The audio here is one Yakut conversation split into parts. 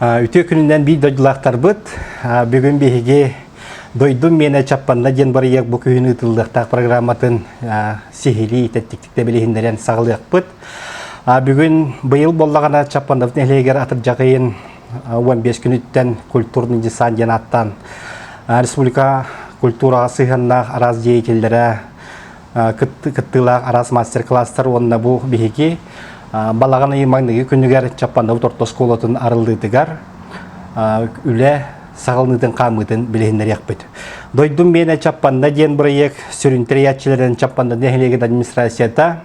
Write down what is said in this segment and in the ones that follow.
Үтүө күнүнэн биир дойдулаахтарбыт, бүгүн биһиги Дойдум миэнэ Чаппанна диэн бырайыак бу күһүн ыытыллыахтаах программатын сиһилии тэттиктик билиһиннэрэн саҕалыахпыт. Бүгүн быйыл боллаҕына Чаппановтын нэһилиэгэр атырдьаҕыйын 15 күнүттэн культурный десант диэн ааттаан республика культураҕа сыһыаннаах араас деятеллэрэ кыттыылаах араас мастер-класстар уонна бу биһиги балаҕан ыйы маҥнайгы күнүгэр Чаппанабыт орто оскуолатын арыллыытыгар үлэ саҕалыныытын хаамыытын билиһиннэриэхпит. Дойдум миэнэ Чаппанна диэн бырайыак сүрүн тэрийээччилэрин Чаппанна нэһилиэгин администрацията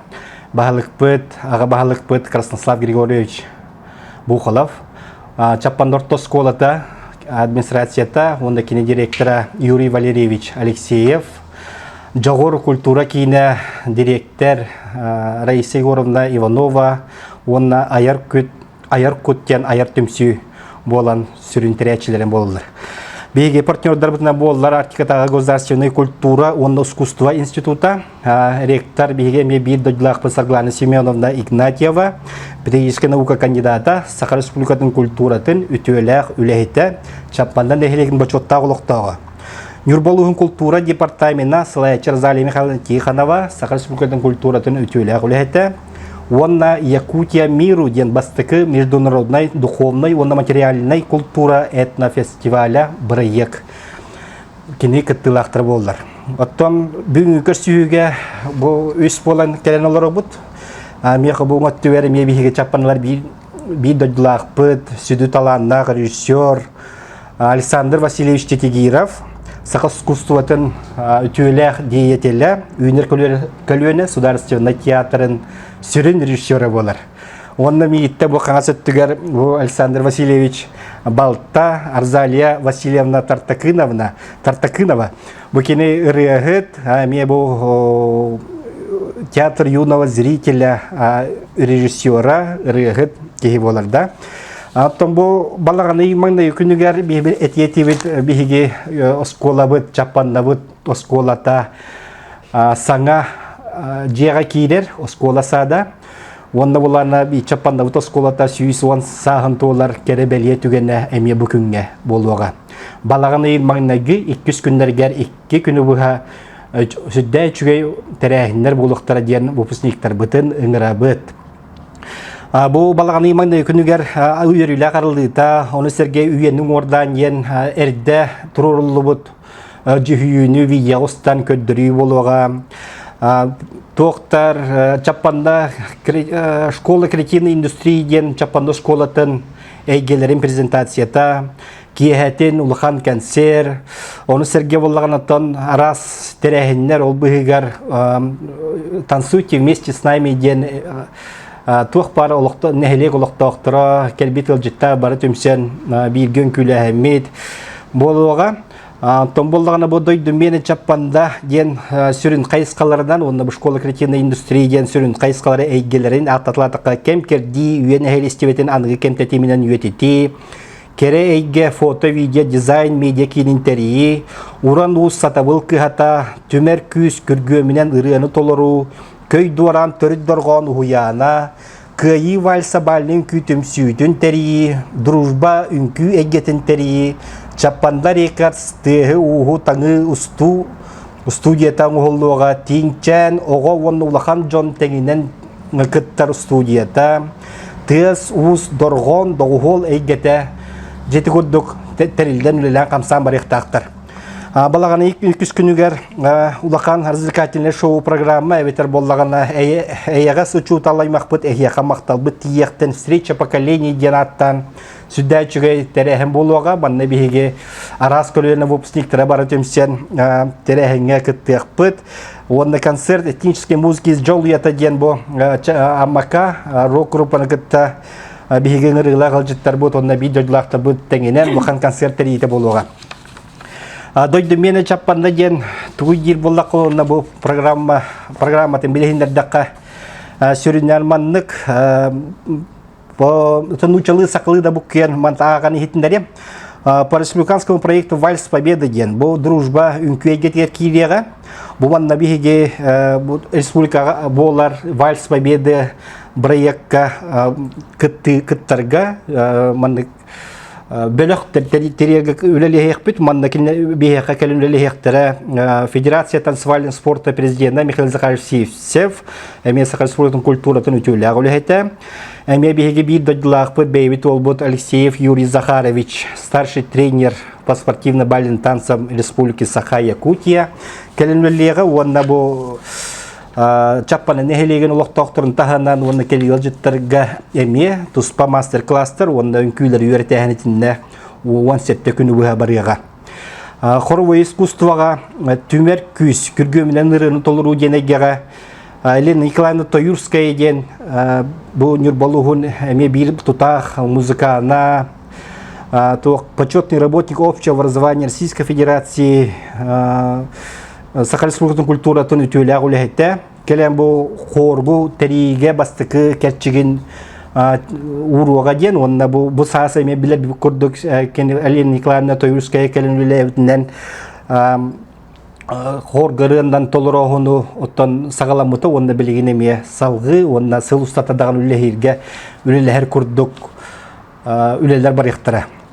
баһылыкпыт, аҕа баһылыкпыт Краснослав Григорьевич Бухолов, Чаппанна орто оскуолата администрацията уонна кини директора Юрий Валерьевич Алексеев, Дьоҕур культура киинэ дириэктэр Раиса Егоровна Иванова уонна Айар Күт Айар Кут диэн Айар түмсүү буолан сүрүн тэрээччилэрин буолаллар. Биһиги партнердарбытынан буоллар Арктикатааҕы государственная культура уонна искусство института, ректор биһиги эмиэ биир дойдулаахпыт Сарглана Семеновна Игнатьева, педагогическая наука кандидата, Саха Республикатын культуратын үтүөлээх үлэһитэ, Чапмандан нэһилиэгин бочуоттаах олохтооҕо. Нюрболуһун култуура департамена сылааччы Розалия Михайловна Тихонова Саха Республикатын культуратын үтүөлээх үлэһитэ уонна Якутия миру диэн бастакы международнай духовной уонна материальнай култуура этнофестиваля бырайыак кини кыттыылаахтара буоллар. Оттон бүгүнгі көрсүһүүгэ бу үс буолан кэлэн олоробут. Миэхэ бу өттүгэр эмиэ биһиги чаппаналар биир биир дойдулаахпыт, сүдү талааннаах режиссер Александр Васильевич Титигиров, саха искусствотын үтүөлээх деятеля, Үүнэр көлүөнэ судаарыстыбаннай театрын сүрүн режиссера буолар. Онно миитте бу хаҥас өттүгэр бу Александр Васильевич Балта, Арзалия Васильевна Тартакыновна, Тартакынова Бу кини ырыаһыт, эмиэ бу театр юного зрителя, режиссера, ырыаһыт киһи буоларда. Оттон бу балаҕаны маҥнайы күнүгэр этиэтибит биһиги оскуолабыт, чаппаннабыт оскуолата саҥа дьиэҕэ киирэр оскуола саада. Уонна булана чаппаннабыт оскуолата сүүс уон сааһын туолар кэрэ бэлиэ түгэнэ эмиэ бу күҥҥэ буолуоҕа. Балаҕан ыйын маҥнайгы иккис күннэригэр икки күнү быһа сүрдээн үчүгэй тэрээһиннэр буолуохтара диэн выпускниктарбытын ыҥырабыт. Бу балаҕаны маҥнай күнүгэр үөрүүлээх арыллыыта, ону сэргэ үйэни уҥуордаан диэн эрдэ туруоруллубут дьүһүйүүнү видеоҕа устан көрдөрүү буолуоҕа. Доктор Чаппанна школа кретины индустрии диэн Чаппанна школатын эйгэлэрин презентацията киэһэтин улахан консерв ону сэргэ боллаганаттан араас тэрээһиннэр ол быһыгар танцуйте вместе с нами диэн туох баар олохтон нэһилиэк олохтоохторо кэлбит ыалдьыттар бары түмсэн бииргэ үҥкүүлээһиммит буолуоҕа Том боллагана бу дойду мене чаппанда диэн сүрүн хайысхаларынан уонна бу школа креативной индустрии диэн сүрүн хайысхалары эйгэлерин ааттатылаатахха кэм кердии үйэн эһэлистибэтин аныгы кэмтэтиминэн үйэтитии кэрэ эйгэ фото видео дизайн медиа киинин тэрийии уран уус сатабыл кыһата түмэр күүс күргүөмүнэн ырыаны толоруу көй дуораан төрүт дорҕоон уһуйаана Кыайыы вальса бааллын күүтүмсүүтүн тэрийии, дружба үҥкүү эйгэтин тэрийии, Чаппанда рекордс тыаһы-ууһу таҥыы устуу устудията оҥоһуллуоҕа Тииҥчээн оҕо уонна улахан дьон тэҥинэн кыттар устудията тыас-уус дорҕоон доҕуһуол эйгэтэ дьити курдук тэриллэн үлэлээн хамсаан барыахтаахтар Балаган үкс күнүгэр улахан развлекательный шоу программа эбэтэр боллагана эйэҕэс учууталаймахпыт эһиэхэ махталбыт тиийэхтен встреча поколений диэн ааттаан сүддээ үчүгэй тэрээһин буолуоҕа манна биһиги араас көлүөнэ выпускниктара бары түмсэн тэрээһиҥҥэ кыттыахпыт уонна концерт этнической музыки из Джолуята диэн бу Амака рок-группаны кытта биһиги ыҥырыылаах ыалдьыттарбыт уонна биир дойдулаахтарбыт тэҥинэн улахан концерт тэрийитэ буолуоҕа Дойду мене чаппанна диэн тугуй диир буллахха уонна бу программа программатын билиһиннэрдэххэ сүрүннэр маннык нучалыы саклыы да буккен мантааҕан иһитиннэрием по республиканскому проекту «Вальс Победы» диэн бу дружба үҥкүөйгэтигэр киириэҕэ бу манна биһиги республикаҕа буолар «Вальс Победы» проекка кыттарга маннык бөлөх терриорга үлэлэһиэхпит манна биһиэхэ кэлин үлэлэһиэхтэрэ федерация танцевальный спорта президента Михаил Захарович Сивцев эмиэ Сахар спортун культуратын үтүөлээх үлэһитэ эмиэ биһиги биир дойдулаахпыт бэйэбит уолбут Алексеев Юрий Захарович старший тренер по спортивно-баллин танцам республики Саха Якутия кэлин үлэлиэҕэ уонна бу Чаппаны нэһилиэгин олохтоохторун таһынан уонна кэлиэлжиттарга эмиэ туспа мастер-класстар уонна үҥкүүлэри үөрэтээһин итиннэ уон сэттэ күн быһа барыаҕа. Хоровое искусствоҕа түмэр күүс күргүөмүнэн ырыаны толоруу диэн эйгэҕэ Елена Николаевна Тоюрская диэн бу Нюрбалуһун эмиэ биир тутаах музыкана почетный работник общего образования Российской Федерации Саха Республикатын культуратын үтүөлээх үлэһиттэ. Кэлэн бу хоорбу тэриигэ бастыкы кэрчигин ууруога диэн уонна бу бу саас эме биле курдук Алина Николаевна Тоюрская кэлен үлэбитинен хоргарыандан толороһуну оттон сагаламыта уонна билигин эмиэ салгы уонна сыл устата даҕан үллэһирге үлэлэһэр курдук үлэлер барыахтара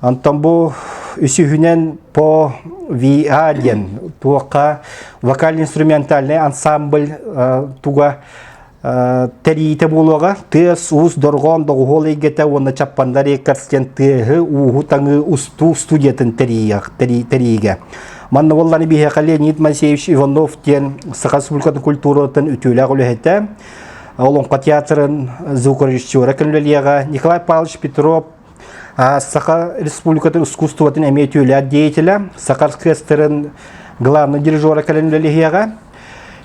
Антон бу үсүһүнэн по VA диэн туохха вокально-инструментальный ансамбль туга тэриите буолуога тыас уус дорҕоон доҕуһуол эйгэтэ уонна чаппандар рекордс диэн тыаһы ууһу таҥыы устуу студиятын тэриигэ манна болланы биһиэхэ Леонид Моисеевич Иванов диэн Саха Республикатын культуратын үтүөлээх үлэһитэ Олоҥхо театрын звукорежиссера көллөлиэҕэ Николай Павлович Петров Саха Республикатын искусствотын эмиэ түүлээх деятеля, Саха оркестрын главный дирижера кэлэн үлэлэһиэҕэ.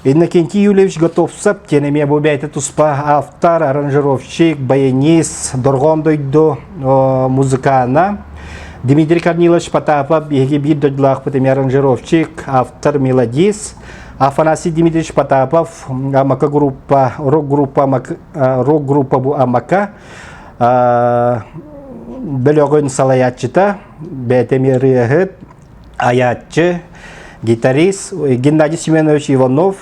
Иннокентий Юльевич Готовцев тиэн эмиэ бу бэйэтэ туспа автор, аранжировщик, баянист, дорҕоон дойду музыкана. Дмитрий Корнилович Потапов биһиги биир дойдулаахпыт эмиэ аранжировщик, автор, мелодист. Афанасий Дмитриевич Потапов, Амака группа, рок-группа, рок-группа бу Амака. бөлөҕүн салаятчыта, бээтэм ырыаһыт, аятчы, гитарист Геннадий Семенович Иванов,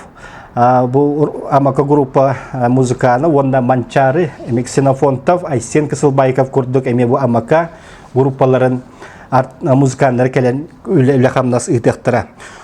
бу Амака группа музыкана уонна Манчары Мексинофонтов Айсен Кысылбайков курдук эми бу Амака группаларын музыканнары кэлэн үлэ-үлэ хамнас ыытыахтара.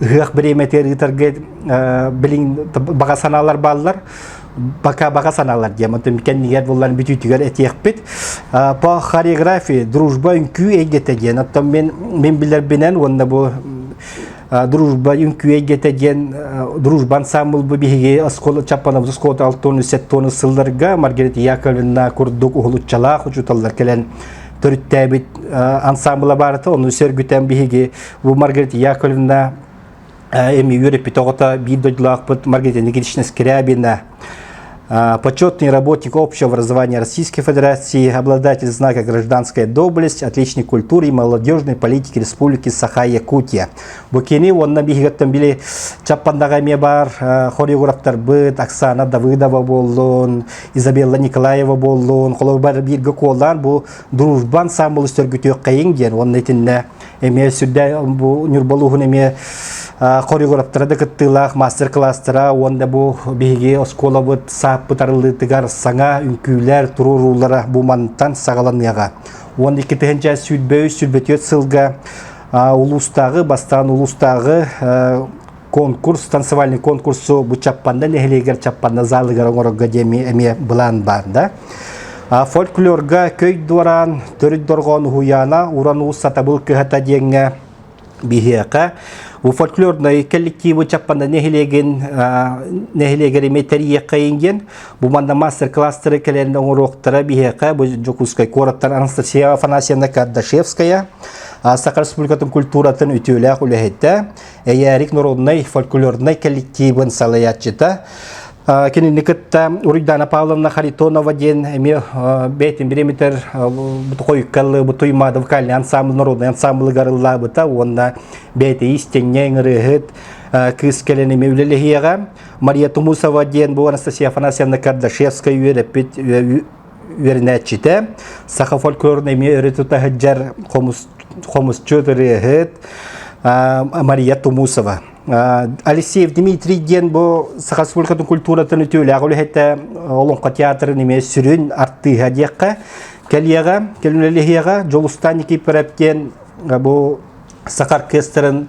Ыһыах бириэмэтигэр ыытарга билин баҕа санаалар бааллар. Бака баҕа санаалар дием отым кэннигер буллан бүтүүтүгэр этиэкпит по хореографии дружба үҥкүү эйгете диэн оттон мен мен билербинен уонна бу дружба үҥкүү эйгете диэн дружба ансамбл бу биһиги оскола чаппанабыз оскола алтон сеттоны сылларга Маргарита Яковлевна курдук уһулуччалаах учуталлар келен төрүттээбит ансамбла барыта оны сөргүтэн биһиги Бу Маргарита Яковлевна эми үөрэппит оҕото биир дойдулаахпыт Маргарита Никитична Скрябина, почетный работник общего образования Российской Федерации, обладатель знака «Гражданская доблесть», отличник культуры и молодежной политики республики Саха-Якутия. Букини уонна биһигаттан били чаппаннаға эме бар хориографтарбыт Оксана Давыдова боллун, Изабелла Николаева боллун, холобар бииргэ куолаан бу дружба ансамбыл үстөргүтүөх қайың диэн уонна итинне эмиэ сүрдээх бу Ньурбалууһун эмиэ хориографтара да кыттыылаах мастер-класстара уонна бу биһиги оскуолабыт сааппыт арыллыытыгар саҥа үҥкүүлэр туруоруулара бу мантан саҕаланыаҕа. Уон иккитинчэ сүүрбэ үс сүүрбэ түөрт сылга улуустааҕы бастаан улуустааҕы конкурс, танцевальный конкурсу бу Чаппанда нэһилиэгэр Чаппанда залыгар оҥорорго диэми эмиэ былаан баар да. Фольклорга көй дуораан, төрүт дорҕоон уһуйаана уран уус сатабыл көһата диэҥҥэ биһиэхэ у фольклорнай коллективы Чаппанда нэһилиэгин нэһилиэгэр име тэрийиэххэйин диэн бу манна мастер-кластеры кэлэн оҥоруохтара биһиэхэ бу Дьокуускай куораттан Анастасия Афанасьевна Кардашевская Саха Республикатын культуратын үтүөлээх үлэһитэ Эйээрик народнай фольклорнай коллективын салаяччыта кинини кытта Уруйдана Павловна Харитонова диэн эми бэйтин бириметр бутуқойуккаллы бутуй мады вокальный ансамбл народный ансамблы гарыллабыта уонна бэйте истенне ырыһыт кыыс келен эми үлелехияға Мария Тумусова диэн бу Анастасия Афанасьевна Кардашевская үөрэппит үөрэнээччитэ, саха фольклорун эмиэ өрө тута сылдьар хомусчут, ырыаһыт Мария Тумусова. Алексеев Дмитрий диэн бу саха республикатын культуратын үтүөлээх үлэһитэ Олоҥхо театрын эмиэ сүрүн артыыһа диэххэ. Кэлиэҕэ, кэлүнэлиһиэҕэ Дьулустан Никифоров диэн бу саха оркестрын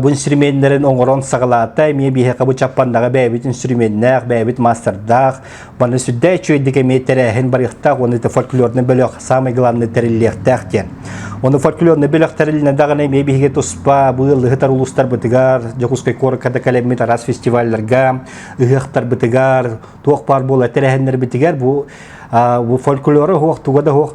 бу инструменнарын оҥорон саҕалаата эмиэ биһиэхэ бу чаппаннаҕа бэйэбит инструменнаах бэйэбит мастардаах манна сүрдээ үчүгэйдик эмиэ тэрээһин барыахтаах уонна это фольклорный бөлөх самый главный тэриллиэхтээх диэн Оны фольклорный бөлөх тэрилинэ даҕаны эмиэ биһиги туспа бу лыһытар улуустарбытыгар Дьокуускай куораккада кэлэммит араас фестивалларга ыһыахтарбытыгар туох баар буола тэрээһиннэрбитигэр бу бу фольклоры хуох туга да хуох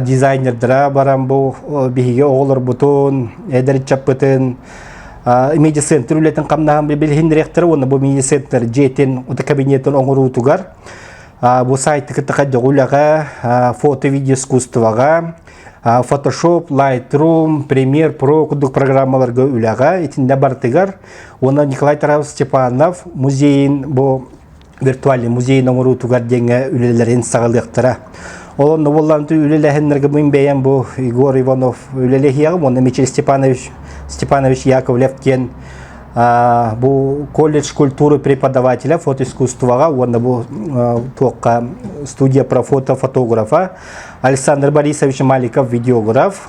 дизайнердара баран бу биһиги оҕолорбутун, эдэрчаппытын, медицинтер үлэтин хамнаһын билиһиннэриэхтэрэ уонна бу медицинтер дьиэтин ута кабинетын оҥоруутугар бу сайтты кытта хайдах үлэҕэ фото видео искусствоҕа Photoshop, Lightroom, Premiere Pro курдук программаларга үлэҕэ итиннэ барытыгар уонна Николай Тарасов Степанов музейин бу виртуальный музей оҥоруутугар диэҥҥэ үлэлэрин саҕалыахтара. Ол онно буоллаҕынты үлэлэһиннэргэ мин бэйэм бу Егор Иванов үлэлэһиэҕим уонна Мичил Степанович Степанович Яковлев диэн бу колледж культуры преподавателя фотоискусствоҕа уонна бу туохха студия про фото фотографа Александр Борисович Маликов видеограф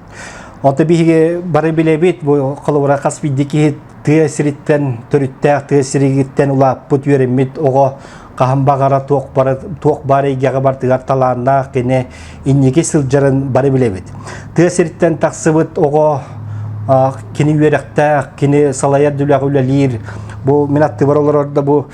Ота биһиги бары билэбит, бу холобура хас биирдии киһи тыа сириттэн, төрүттээх тыа сиригиттэн улааппыт, үөрэммит оҕо хаһан баҕара туох бары туох баар эйгэҕэ бартыгар талааннаах кини инники сылдьарын бары билэбит. Тыа сириттэн тахсыбыт оҕо кини үөрэхтээх, кини салайар дүлэҕэ үлэлиир. Бу мин аттыбар олорордо бу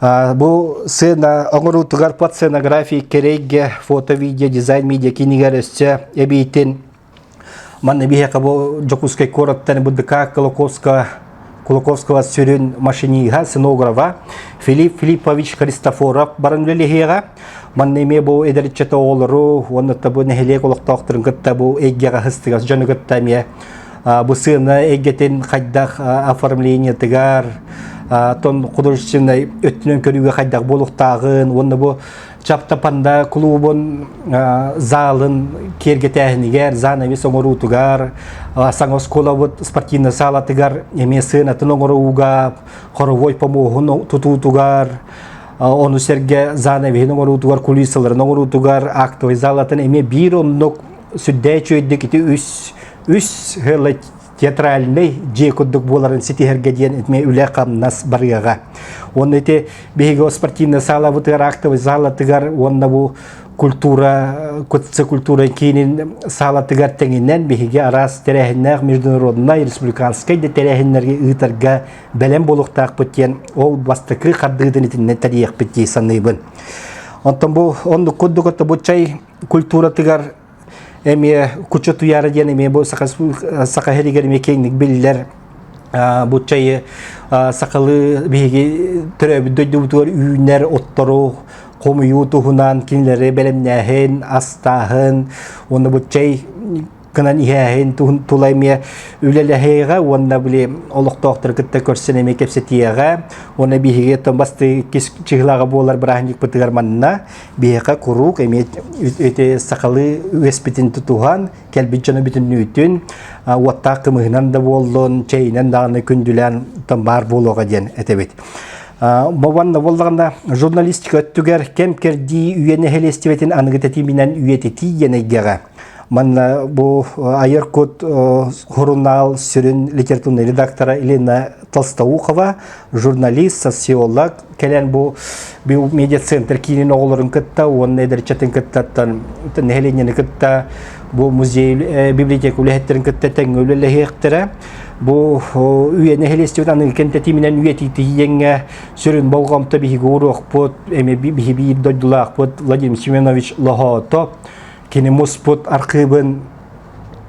Бу сцена оҥоруутугар под сценографии керейге фото-видео дизайн медиа кинигэр өссө эбиитин манна биһиэхэ бу Дьокуускай куораттан БДК Кулаковска Кулаковского сүрүн машиниһа, сценографа Филипп Филиппович Христофоров баран үлэлэһиэҕэ. Манна эмиэ бу эдэрчэт оҕолору уонна табу нэһилиэк олохтоохторун кытта бу эйгэҕэ хыстыгас дьону кытта эмиэ бу сыана эйгэтин хайдах оформлениетыгар тон художественнай өттүнэн көрүүгэ хайдах буолуктааҕын уонна бу чаптапанда клубун заалын киэргэтээһинигэр занавес оҥоруутугар саҥа оскуолабыт спортивнай саалатыгар эмиэ сыанатын оҥорууга хоровой помуоһун тутуутугар ону сэргэ занавеһин оҥоруутугар кулиссаларын оҥоруутугар актовый заалатын эмиэ биир оннук сүрдээх үчүгэйдик ити үс үс театральнай дьиэ курдук буоларын ситиһэргэ диэн эмиэ үлэ-хамнас барыаҕа. Уонна ити биһиги о спортивная саала бытыгар актовый саалатыгар уонна бу культура, кутца культура киинин саалатыгар тэҥинэн биһиги араас тэрээһиннээх международнай, республиканскай да тэрээһиннэргэ ыытарга бэлэм буолуохтаахпыт диэн ол бастакы хардыытын итиннэн тэрийэхпит дии саныыбын. Онтон бу оннук курдук оттобуччай культуратыгар эмиэ куча туяра диэн эмиэ бу саха саха херигер эмиэ киэҥник биллэр бу чайы сахалыы биһиги төрөөбүт дойдубутугар үүнэр оттору хомуйуу туһунан кинилэри бэлэмнээһин астааһын уонна бу чай кынан иһээһин тула эмиэ үлэлэһиэҕэ уонна били олохтоохтору кытта көрсөн эмиэ кэпсэтиэҕэ уонна биһиги бастыы иккис чыһылаҕа буолар бырааһынньыкпытыгар манна Биһиэхэ куруук эмиэ ити сахалыы үөспитин тутуһан, кэлбит дьоно бүтүннүүтүн уоттаах кымыһынан да буоллун, чэйинэн даҕаны күндүлээн баар буолуоҕа диэн этэбит. Бобанна боллаҕына журналистика өттүгэр кэм кэрдии үйэ нэһилиэстибэтин аныгы тэтиминэн үйэтитии диэн эйгэҕэ Манна бу Айыр Кут журнал сүрүн литературный редактора Елена Толстоухова, журналист, социолог, кэлэн бу бу медицинтр киинин оҕолорун кытта уонна эдэрчатын кыттаттан нэһилиэнньэни кытта бу музей библиотека үлэһиттерин кытта тэҥҥэ үлэлэһиэхтэрэ бу үйэ нэһилиэстибит аныгы кэнтэтииминэн үйэтитииҥҥэ сүрүн болҕомто биһиги уруокпут эми биһи биир дойдулаахпыт Владимир Семенович Лохоото Кини муспут архыыбын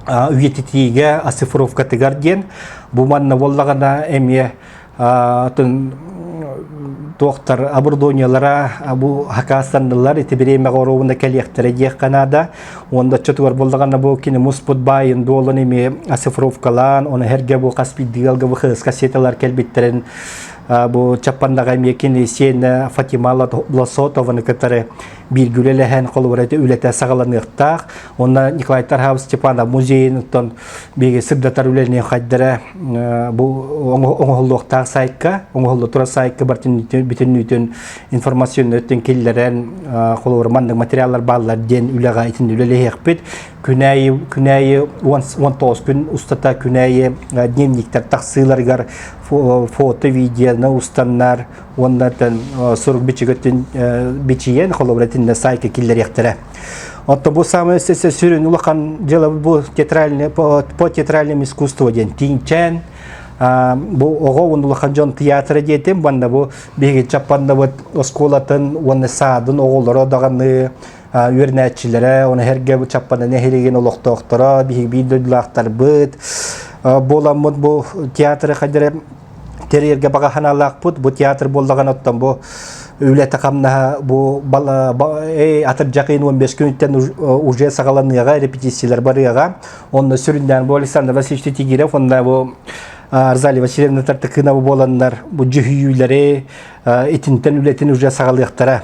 үйэтитиигэ оцифровкатыгар диэн бу манна боллагана эмиэ атын туохтар оборудованиелара бу хакаастаннылар ити бириэмэҕэ оруобуна кэлиэхтэрэ диэххэ наада уонда чотугар боллагана бу кини муспут баайын дуолун эмиэ оцифровкалаан оны хэргэ бу хас биддигалга бу хыска сеталар кэлбиттерин бу чаппандаҕа эмиэ кини сиэнэ фатима лосотованы кытары бииргэ үлэлэһэн холобура үлэтэ саҕаланыахтаах. Онно Николай Тархабов Степанов музейынан биһиги сырдатар үлэни хайдара бу оҥоһуллуохтаах сайтка, оҥоһуллу турар сайтка бүтүннүүтүн информационнайтын киллэрэн холобура маннык материаллар бааллар диэн үлэҕэ итин үлэлэһиэхпит. Күнәйи күнәйи 19 күн устата күнәйи дневниктер тахсыыларыгар фото видеоны устаннар уонна сурук бичигөттүн бичийэн холобура тинне сайка киллериэхтэрэ Отто бу самое сүрүн улахан дела бу театральное по театральному искусству ден тинчен бу оҕо уон улахан дьон театра диэтим банна бу биһиги чаппаннабыт оскуолатын уонна саадын оҕолоро даҕаны үөрнээччилэрэ оны herge bu чаппаны нэһилигин олохтоохторо биһиги биир дойдулаахтарбыт буоламмыт бу театры хадere Тэрийэргэ баҕа санаалаахпыт. Бу театр буоллаҕын оттон бу үлэтэ-хамнаһа бу атырдьахын 15 күнүттэн уже саҕаланыаҕа, репетициялар барыаҕа. Онно сүрүннээн бу Александр Васильевич Тигирев, онна бу Арзалия Васильевна Тартыкынова буоланнар бу дьүһүйүүлэри итинтэн үлэтин уже саҕалыахтара.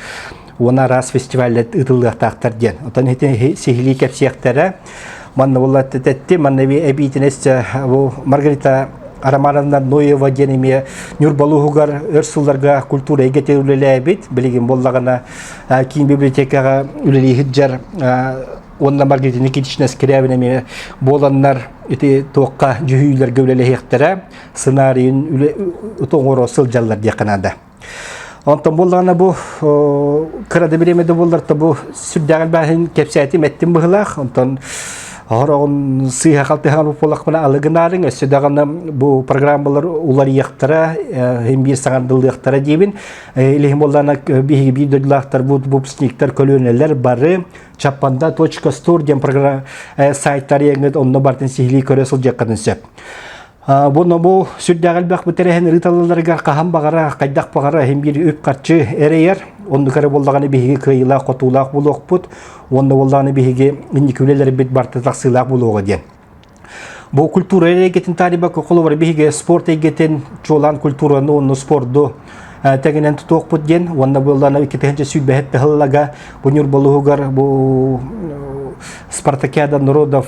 уона араас фестиваллар ыытыллыахтаахтар диэн. Оттон итини сиһилии кэпсиэхтэрэ. Манна булла тетти, манна эбиитинэс бу Маргарита Романовна Ноева диэн эмиэ Нюрбалуһугар өр сылларга культура эйгэтэ үлэлээбит, билигин боллагана киин библиотекаҕа үлэлииһит дьар уонна Маргарита Никитична Скрябина эмиэ буоланнар ити туохха дьүһүйүүлэргэ үлэлэһиэхтэрэ, сценарийын оҥоро сылдьаллар диэххэ наада. Онтон буллаҕына бу кыра да бириэмэ да буллар то бу сүрдээҕин бааһын кэпсээтим эттим быһылаах онтон Оһороҕун сыыһа халтыһан буолахпына алыгынаарың өссө даҕаны бу программалар уларыйахтара хим биир саҥардылыахтара диебин илиһим боллана биһиги биир дойдулаахтар бу выпускниктар көлүөнэлэр бары чаппанда точка стур диэн программ э, сайттар яңыт онно бартын сиһилии көрө сылдьаккатын сөп Бу нобу сүрдээх элбэх бүтэрэһин ырыталларыгар хаһан баҕара, хайдах баҕара иһин биир үп-харчы эрэйэр. Оннук эрэ боллаҕына биһиги кыайыылаах-хотуулаах буолуохпут. Уонна боллаҕына биһиги инникилэрбит барыта тахсыылаах буолуоҕа диэн. Бу культура эйгэтин тариба кололор биһиги спорт эйгэтин, чуолаан культураны онну спорду тегенен тутуохпут диэн уонна буллана иккитинчи сүүбэһит тыһыллага бу нюрболуһугар бу Спартакиада народов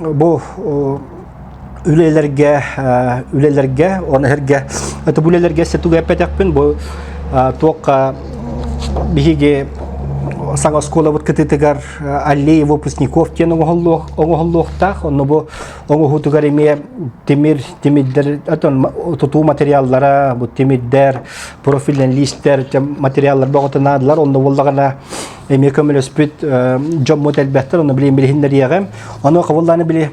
бу үлэлэргэ үлэлэргэ он эһэргэ это үлэлэргэ сетуга эппэтэкпин бу туокка биһиги саҥа оскуолабыт кытытыгар аллея выпускников диэн оҥоһуллуохтаах онно бу оҥоһуутугар эмиэ тимир тимирдэр тутуу материаллара бу тимирдэр профилен листер материаллар бөҕөтө наадалар онно буоллаҕына эмиэ көмөлөспүт дьоммут элбэхтэр, оны билин билиһиннэриэҕим. Ону кабыллааны били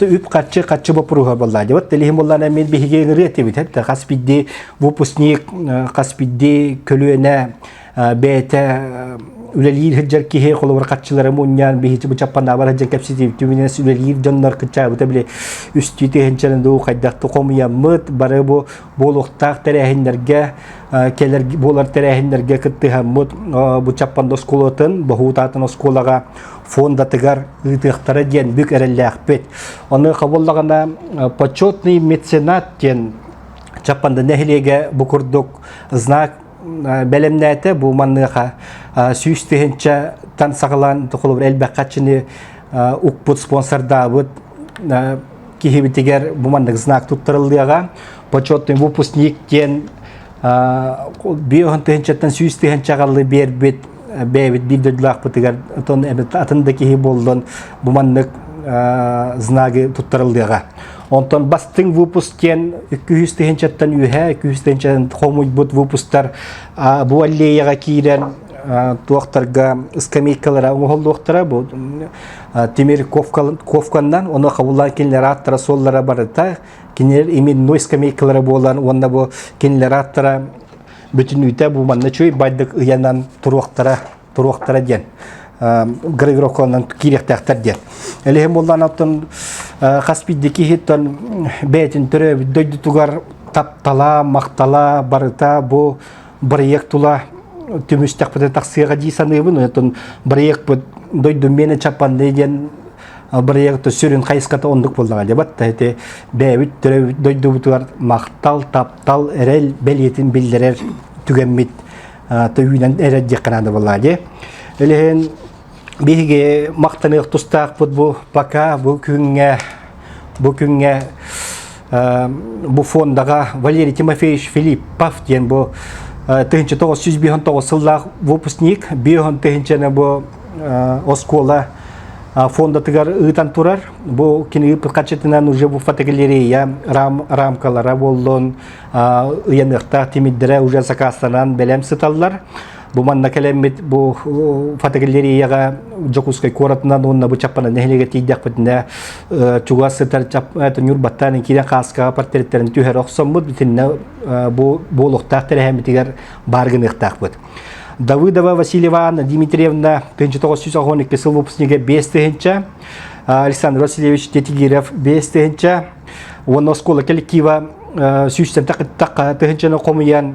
үп-харчы харчы боппуруһа болла. Вот телихим боллааны эмиэ биһиги ырыа тибит. Хас хас бидди выпускник, хас бидди көлүөнэ бэйэтэ үлэлиир хыджар киһи холобур хаччылары мунньаан биһичи бычаппанаабар хыджар кэпситиибтүмүнэн үлэлиир дьоннор кычаабыта били үстүү тиһэнчерин дуу хайдахты хомуйаммыт бары бу буолуохтаах тэрээһиннэргэ кэлэр буолар тэрээһиннэргэ кыттыһаммыт Бучаппанда оскуолатын Боһуутаатын оскуолаҕа фондатыгар ыытыахтара диэн бүк эрэллээхпит. Ону хабыллаҕына почетный меценат диэн Чаппанда нэһилиэгэ бу курдук знак бэлэмнээтэ бу манныаха сүүс тыһынча тан саҕалаан толору элбэх хаччыны укпут спонсордаабыт киһибитигэр бу маннык знак туттарыллыаҕа почетный выпускник диэн биоһын тыһынчаттан сүүс тыһынча аҕаллы биэрбит бэйэбит биир дойдулаахпытыгар отон атын да киһи боллон бу маннык знагы туттарыллыаҕа онтон бастыҥ выпуск диэн икки үс тыһынчаттан үөһэ икки үс тыһынчаттан хомуйбут выпустар бу аллеяҕа киирэн туохтарга скамейкалара оҥоһуллуохтара бу Тимир ковканнан оны хабыллан кинилер аттара соллара барыта кинилер имин ной скамейкалара буолан уонна бу кинилер аттара бүтүн үтэ бу манна чөй байдык ыянан туруохтара туруохтара диэн грегроконан киирехтээхтер диэн элэһим боллан аттан хас биддики хиттан бээтин төрөөбүт дойдутугар таптала махтала барыта бу бырайыак тула түмүстэхпитэ тахсыаҕа дии саныыбын оттон бырайыакпыт дойду мене чапанды диэн бырайыакта сүрүн хайысхата оннук буоллаҕа дебат ити бэйэбит төрөбүт дойдубутугар махтал таптал эрэл бэлиэтин биллэрэр түгэммит төвүүнэн эрэр диэххэ наада буолла дии биһиги махтаныах тустаахпыт бу пока бу күҥҥэ бу күҥҥэ бу фондаҕа Валерий Тимофеевич Филиппов диэн бу тыһынча тоҕус жүз биһон тоҕус сыллаах выпускник биһон тыһынчаны бу оскуола фондатыгар ыытан турар бу кини ыыппыт харчытынан уже бу фотогалерея рам, рамкалара буоллун ыйаныахтаах тимирдэрэ уже закастанан бэлэм сыталлар Бу манна кэлэммит бу фотогалереяга Дьокуускай куоратынан уонна бу чаппана нэһилиэгэ тиийдэхпитинэ чугас сытар ньур баттаан киирэн хааскаҕа портреттерин түһэрэ охсоммут битиннэ бу буолуохтаах тэрээһиммитигэр баар гыныахтаахпыт. Давыдова Васильева Анна Дмитриевна 1992 сыл выпускнига 5 тыһынча, Александр Васильевич Детигиров 5 тыһынча, уонна оскола коллектива сүүстэн тыһынчаны хомуйан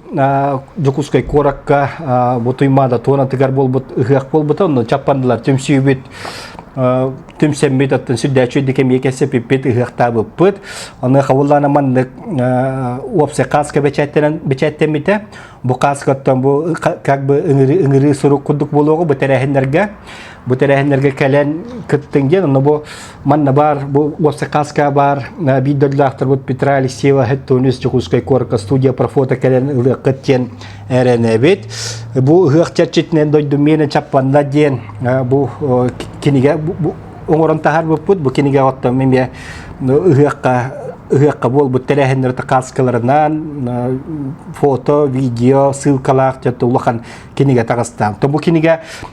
Дьокуускай куоракка бу Туймаада туонатыгар буолбут ыһыах буолбута, онно чаппандылар түмсүүбүт түмсэммит, оттон сүрдээччи дикэмиэкэ сепиппит ыһыахтаабыппыт. Аны хавыллаана маннык уопсай кааска бэчээттэммитэ. Бу кааскаттан бу как бы ыҥырыы сурук курдук буолуоҕу бу тэрээһиннэргэ. Бу тэрээһиннэргэ кэлэн кыттыҥ диэн, онно бу Манна бар, бу Уопсакааска бар, биир дөллөөхтөрбут Петра Алексеева Хеттунис Чукускай куорка студия профото кэлэн ылыаххыт диэн эрэнэбит. Бу ыһыах чэрчитинэн дойдум миэнэ чаппанна диэн бу кинигэ оҥорон таһарбыппыт бу кинигэ оттом эмиэ ыһыахха ыһыахха буолбут тэрээһиннэрэ каскаларынан фото, видео, ссылкалаах улахан кинигэ таҕыстаан. То бу кинигэ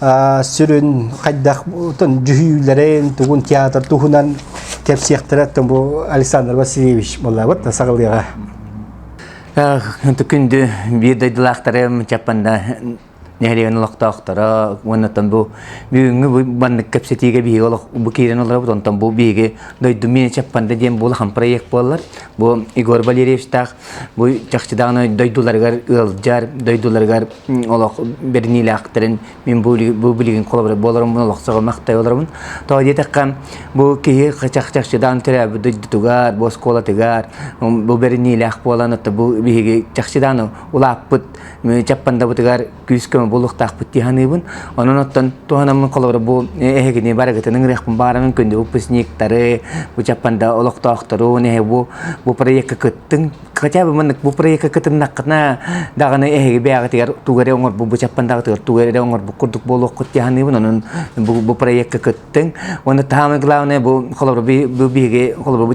сүрүн хайдах дьүһүйүүлэрин тугун театр туһунан кэпсиэхтэрэ бу Александр Васильевич боллабыт сагалыга күндү биир дойдулаахтары мычаппанда нэһриэн олохтоохторо уоннаттан бу бүгүнгү баннык кэпсэтиигэ биһиги олох бу киирен олорабыт онтон бу биһиги дойду мен чаппанда диэн бу улахан проект буоллар бу Егор Валерьевичтаах Бу чахчыдаҕына дойдуларыгар ыалдьар, дойдуларыгар олох бэрниилээхтэрин мин бу билигин болорун олохсоҕо махтай олоробун. Тоҕо диэтэххэ бу киһи чахчыдаан төрөөбүт дойдутугар, бу оскуолатыгар бу бэрниилээх буолан бу биһиги чахчыдаан улааппыт Чаппандабытыгар күүскэ булуохтаахпыт дии саныыбын. Онон оттон туһанаммын холобура бу эһигини барыгытын ыҥырыахпын баарымын күндү выпускниктары, бычаппан да олохтоохторун эһи бу бу проекка кыттыҥ. Хотя бы маннык бу проекка кытыннаххына даҕаны эһиги бэйэҕитигэр тугу эрэ оҥорбут бычаппан даҕатыгар тугу эрэ оҥорбут курдук буолуоххут дии саныыбын. Онон бу бу проекка кыттыҥ. Уонна таһаамай главное бу холобура бу биһиги холобура бу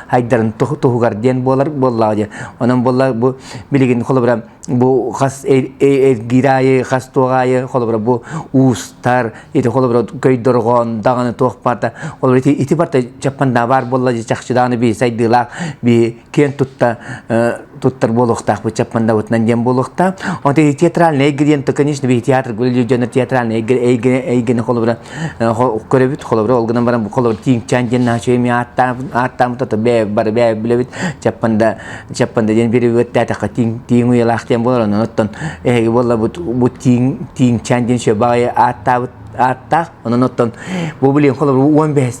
хайдарын туһугар диэн буолар буоллаҕа диэн онон буолла бу билигин холобура бу хас эргирайы хас туоҕайы холобура бу уустар ити холобура көйдорҕон даҕаны туох барда ол ити ити барда чаппанда баар болла чахчыдааны би сайдыылаах би киэн тутта туттар буолуохтаах бу чаппандабытынан диэн буолуохтаах онто театральный эйгэ диэн то конечно би театр гулил дьонор театральный эйгене холобура көрөбүт холобура ол гынан баран бу холобур тииҥчаан диэн наачыйым ааттаабыт ааттаабыт ото бэйэ бары бэйэ билэбит чаппанда чаппанда диэн перевод тээтэххэ тииҥ тииҥ уйалаах диэн буолар онон оттон эһиги буоллабыт бу тииҥ тииҥчаан диэн шөбаҕайы ааттаабыт ааттаах онон оттон бу билиҥ холобур уон бэһис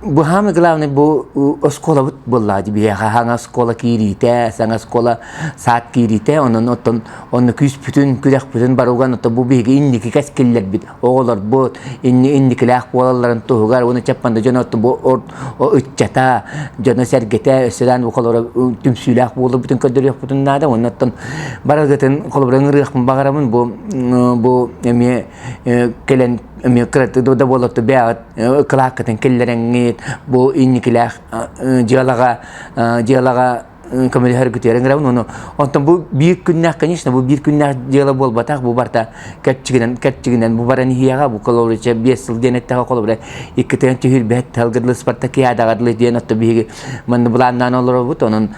Быһаамы главный бу оскуолабыт булла биһиэхэ хаҥа оскуола киириитэ, саҥа оскуола саат киириитэ, онон оттон онно күүспүтүн, күрэхпитин барылган ото бу биһиги инники кэскиллэрбит, оҕолорбут инни инникилээх буолалларын туһугар уонна чаппанда дьон отто бу ыччата, дьоно-сэргэтэ өссөдään холоро түмсүүлээх буолбутун көрдөрүөхпутун наада. Онно оттон барылгытын холобура ыҥырыахпын баҕарабын бу бу эмиэ кэлэн эмиэ кыратык да буоларту бэйэҕит кылааккытын киллэрэҥҥит бу инникилээх дьыалаҕа дьыалаҕа көмөлөһөр күтүөрүн грабын ону онтон бу биир күннээх конечно бу биир күннээх дьыала буолбатах бу барта кэрчигинэн кэрчигинэн бу баран иһиэҕэ бу колорыча биэс сыл диэн эттэҕэ холобура иккитигэн түһүрбэт тылгырлы спартакиадаҕырлы диэн отто биһиги манны былааннаан олоробут онон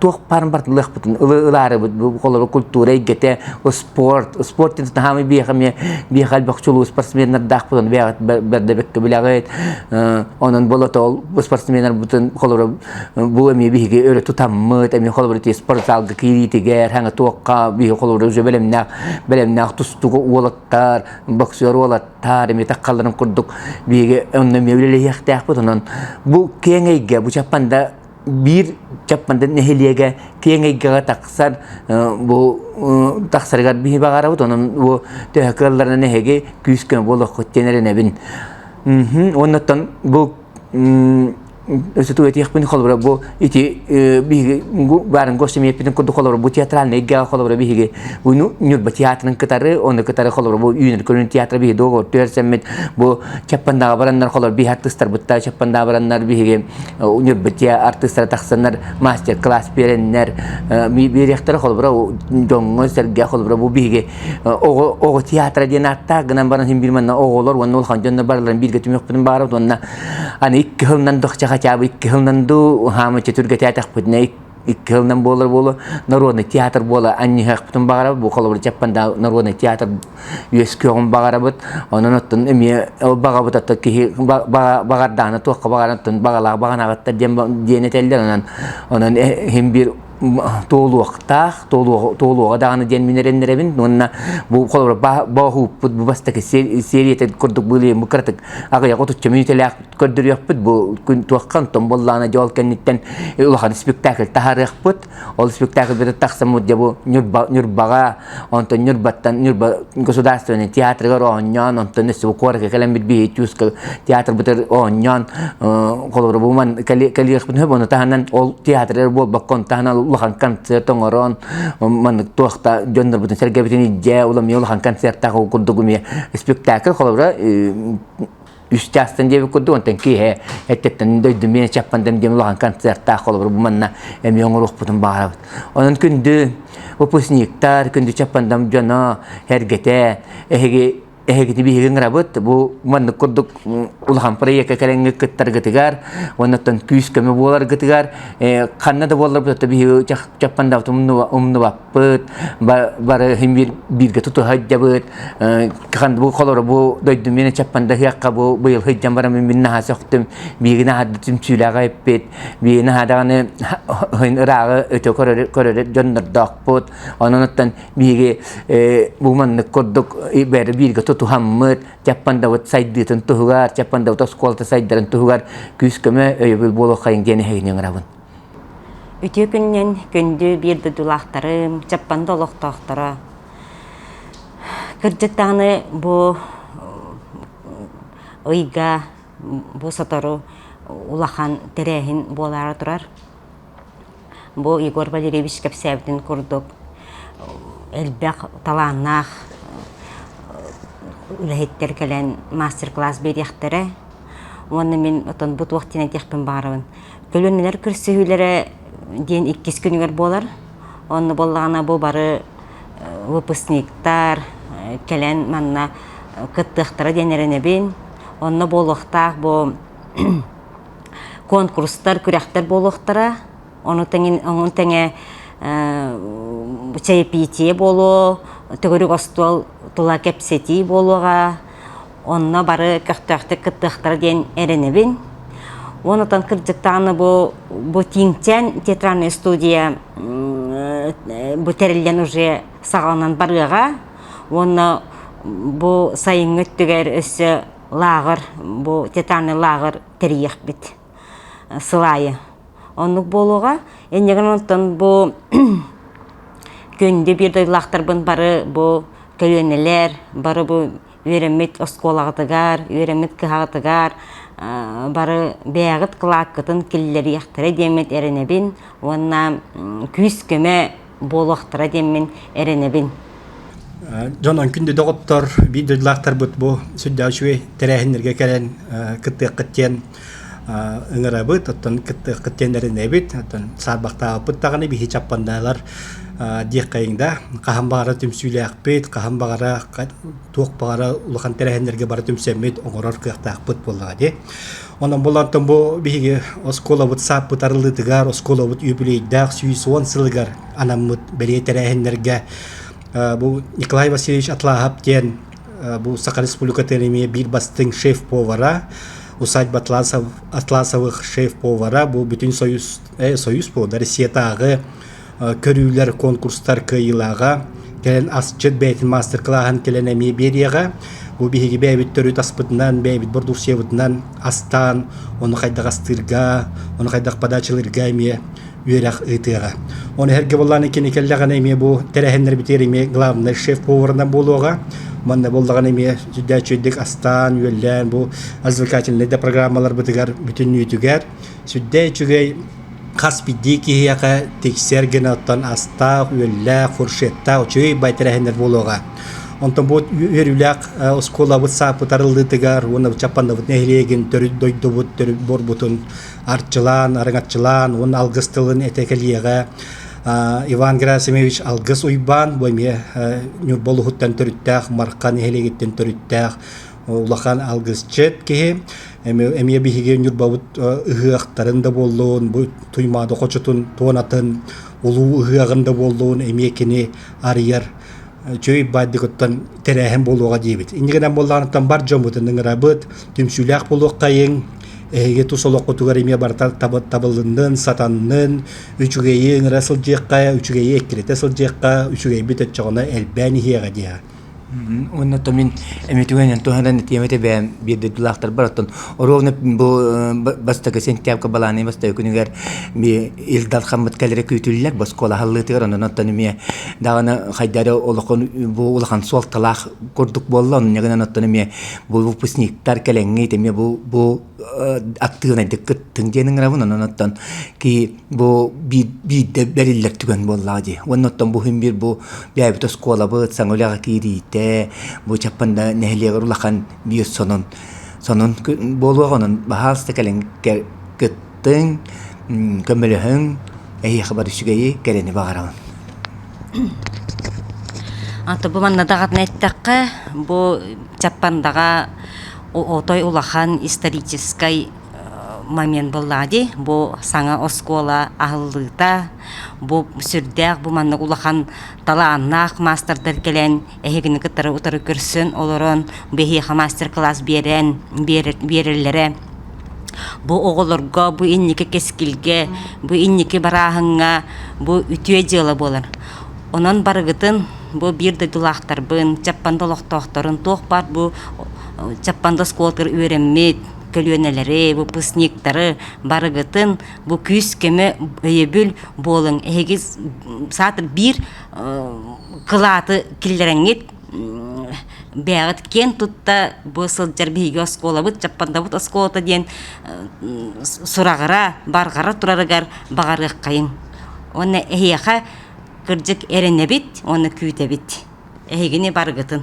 туох парын бартылыахпытын ылаарыбыт холору культура эйгэтэ спорт спорт ин таһамы биэхаме биэхал бөх чулуу спортсменнардаахпытын бэҕэт бэрдебекке билэҕит онон болото спортсменнар бутун холору бу эми биһиги өрө тутаммыт эми холору те спортзалга киириитигэр хаҥа туохха биһи холору бэлэмнээх бэлэмнээх тустуга уолаттар боксер уолаттар эми таккаларын курдук биһиги онно мевлелэһиэхтээхпит онон бу кеңэйгэ бу чаппанда биир Чапманда нэһилиэгэ киэҥ эйгэҕэ тахсар бу тахсарыгар биһи баҕарабыт онон бу төһө кыалларынан эһиги күүс-көмө буолуоххут диэн эрэнэбин уоннаттан бу өсөту этиэхпин холобура бу ити биһиги барын госемиеппитин курдук холобура бу театральнай эйгэҕэ холобура биһиги буну Ньурба театрын кытары оны кытары холобура бу үүнэр көрүн театра биһи договор түөрсэммит бу Чаппандаҕа бараннар холобура биһи артыстарбыттар Чаппандаҕа бараннар биһиги университетке артыстара тахсаннар мастер-класс береннер берехтер холбура дьоҥҥо сэргэ холбура бу биһиги оҕо театра диэн ааттаах гынан баран син бирманна оҕолор уонна ол хандьонно барларын бииргэ түмүкпүтүн баарабыт уонна аны икки хылнан дохча хачаабы икки хылнанду хаамычча түргэтээтэхпитинэ икки хылынан буолар буолу народный театр буола анньыһахпытын баҕарабыт бу холобур дьаппанда народный театр үөскүөҕүн баҕарабыт онон оттон эмиэ баҕабыт отто киһи баҕардаана туохха баҕарантын баҕалаах баҕанабыттар диэн диэн этэллэр онон онон иһин биир туолуохтаах туолуоҕа даҕаны диэн мин эрэннэрэбин уонна бу холобур бооһууппут бу бастакы сериятын курдук былыйын бу кыратык аҕыйаҕа отучча мүнүүтэлээх көрдөрүөхпүт бу күн туоххан томболлаана дьол кэнниттэн улахан спектакль таһарыахпыт ол спектакль тахсаммыт дьэ бу ньурбаҕа онтон ньурбаттан ньурба государственный театрыгар оонньоон онтон өссө бу куоракка кэлэн бит биһи тюска театр бытыр оонньоон холобуруман кэлиэхпит сөп ону таһынан ол театрыр буолбакка ону таһынан улахан концерт оҥорон маннык туохта дьоннорбутун сэргэбитин илдьэ улам улахан концерттаах курдук спектакль холобура үстээхтэн диэбит курдук онтон киэһэ эттеттэн дойду мен чаппандам диэн улахан концерттаах холобур буманна эмиэ оҥоруохпутун баҕарабыт онон күндү выпускниктар күндү чаппандам дьоно эргэтэ эһиги эһигити биһиги рабыт бу маннык курдук улахан проекка кэлэҥҥи кыттаргытыгар оннуттан күүс көмө буоларгытыгар ханна да буоллар биһиги чаппандабыт умнуба сыппыт, бары бииргэ тутуһайдьабыт, ханды бу холору бу дойдум мен чаппандахыахха бу быйыл хыйдьан барам мин наһаа сөхтүм, биигин аһарды түмсүүлэҕэ эппит, биин аһадаҕаны хын ырааҕы өтө көрөрө дьоннордоохпут, ононуттан бииги бу маннык курдук бэри бииргэ тутуһаммыт, чаппандабыт сайдыытын туһугар, чаппандабыт оскуолата сайдарын туһугар күүс-көмө өйөбүл буолуоххайын диэн эһигини ыңырабын. Үтүө күнүнэн күндү биир дойдулаахтарым, Чаппанда олохтоохторо. Кырдьык даҕаны бу ыйга бу сотору улахан тэрээһин буолаары турар. Бу Егор Валерьевич кэпсээбитин курдук элбэх талааннаах үлэһиттэр кэлэн мастер-класс биэриэхтэрэ. Уонна мин отон бу туох диэн этиэхпин баарабын. Көлүөнэлэр көрсүһүүлэрэ диэн иккис күнүгэр буолар. Онно буоллаҕына бу бары выпускниктар кэлэн манна кыттыахтара диэн эрэнэбин. Онно буолуохтаах бу конкурстар, күрэхтэр буолуохтара. Ону тэҥэ, ону тэҥэ чэйэпиитийэ буолуо, төгүрүк остуол тула кэпсэтии буолуоҕа. онно бары көхтөөхтүк кыттыахтара диэн эрэнэбин. Уон отон кырдьыктааны бу, бу Тиҥчэн театральная студия бу тэриллэн уже саҕаланан барыаҕа уонна бу сайыҥҥы өттүгэр өссө лааҕыр бу театральный лааҕыр тэрийиэхпит сыл аайы. Оннук буолуоҕа. Иннигин онтон бу күндү биир дойдулаахтарбын бары бу көлүөнэлэр, бары бу үөрэммит оскуолаҕытыгар, үөрэммит кыһаҕытыгар бары бэйэҕит кылааккытын киллэриэхтэрэ диэммит эрэнэбин уонна күүс-көмө буолуохтара диэммин эрэнэбин. Дьон өҥкүн доҕоттор, биир дойдулаахтарбыт бу сүрдээх үчүгэй тэрээһиннэргэ кэлэн кыттыаххыт диэн ыҥырабыт, оттон кыттыаннарынэбит, оттон саарбахтаабыппыт даҕаны биһи чаппаннаалар диэххэйиҥ да, хаһан баҕара түмсүүлээхпит, хаһан баҕара туох баҕара улахан тэрээһиннэргэ бары түмсэммит, оҥорор кыахтаахпыт буоллаҕа дии. Онон булантан бу биһиги оскуолабыт сааппыт арыллыытыгар, оскуолабыт үбүлүөйдээх сүүс уон сылыгар анаммыт бэлиэ тэрээһиннэргэ бу Николай Васильевич Атлаһап диэн Бу Саха Республикатын эмиэ биир бастыҥ шеф-повара, усадьба атласов, атласовых шеф-повара, бу Бүтүн Союз, э, Союз повара, Россиятааҕы көрүүлэр, конкурстар кыайыылааҕа, кэлэн асчыт бэйэтин маастер-клааһын кэлэн эмиэ биэриэҕэ. Бу биһиги бэйэбит төрүт аспытынан, бэйэбит бордуусуйабытынан астаан, ону хайдах астыырга, ону хайдах падаачылыырга эмиэ үөрэх ыытыаҕа. Оны эргэ боллааны кини кэллэҕинэ эмиэ бу тэрээһиннэрбитигэр эмиэ главный шеф-поварына буолуоҕа. Манна боллаҕын эмиэ сүрдээх астаан, үөллээн бу развлекательнай да программаларбытыгар бүтүннүүтүгэр сүрдээх үчүгэй хас биирдии киһиэхэ тиксэр гына оттон астаах, үөллээх, фуршеттаах үчүгэй бай тэрээһиннэр буолуоҕа. Онтон бу үөрүүлээх э, оскуолабыт сааппыт арыллыытыгар уонна Чаппаннабыт нэһилиэгин төрүт дойдубут төрүт буорбутун арчылаан, арыҥаччылаан уонна алгыс тылын этэ кэлиэҕэ. Иван Герасимович алгыс Уйбаан бу эмиэ Ньурба улуһуттан төрүттээх, Мархан нэһилиэгиттэн төрүттээх улахан алгысчыт киһи. Эмиэ биһиги Ньурбабыт ыһыахтарын да буоллун, бу Туймаада хочотун туонатын улуу ыһыаҕын да буоллун эмиэ кини арыйар чөй бааддьыкыттан тэрээһин буолуоҕа диэбит. Инньэ гынан буоллаҕыттан бар дьоммутун ыҥырабыт, түмсүүлээх буолуоххайыҥ. Эһиги тус олоххутугар эмиэ барыта табыллыннын, сатаннын, үчүгэйи ыҥыра сылдьыахха, үчүгэйи эккирэтэ сылдьыахха, үчүгэйбит өччөҕүнэ элбээн иһиэҕэ диэҕэ. Уонна то мин эмитүгэнэн туһанан тиэмэтэ бэйэм биэрдэрдилаахтарбар оттон оруобуна бу бастакы сентябрьга балааны бастакы күнүгэр Ил Дархаммыт кэлэри күүтүллэр боскуола халлыытыгар онон оттон эмиэ даҕаны хайдары олохон бу улахан суолталаах курдук буолла онон гынан оттон эмиэ бу выпускниктар кэлэҥҥит эмиэ бу бу актыынайдык кыттын диэн ыҥырабын онон оттон ки бу биирдэ бэриллэр түгэн буоллаҕа дии уонна оттон бу хүн биир бу бэйэбит оскуолабыт саҥа үлэҕэ киириитэ бу чаппанда нэһилиэгэр улахан биир сонун сонун буолуоҕа онон баһаалыста кэлэҥҥэ Тыыҥ, көмөлөһүҥ, эһиэхэ бары үчүгэйи, кэрэни баҕараҕын. Ата бу манна даҕатан эттэххэ, бу Чаппандаҕа отой улахан историческай момент буоллаҕа дии. Бу саҥа оскуола аһыллыыта, бу сүрдээх бу манна улахан талааннаах маастардар кэлэн Эһигини кытары утары көрсөн олорон, биһиэхэ мастер-класс биэрэн, биэрэллэрэ. Бу оҕолорго, бу инники кэскилгэ, бу инники барааһыҥҥа бу үтүө дьыала буолар. Онон барыгытын бу биир дойдулаахтарбын, Чаппанда олохтоохторун туох баар бу Чаппанда оскуолатыгар үөрэммит көлүөнэлэри, выпускниктары барыгытын бу күүс-көмө өйөбүл буолуҥ. Эһиги саатар биир кылааты киллэрэҥҥит бээҕит киэн тутта бу сылдьар биһиги оскуолабыт чаппандабыт оскуолата диэн сураҕара барҕара турарыгар баҕарыаххайыҥ уонна эһиэхэ кырдьык эрэнэбит уонна күүтэбит эһигини барыгытын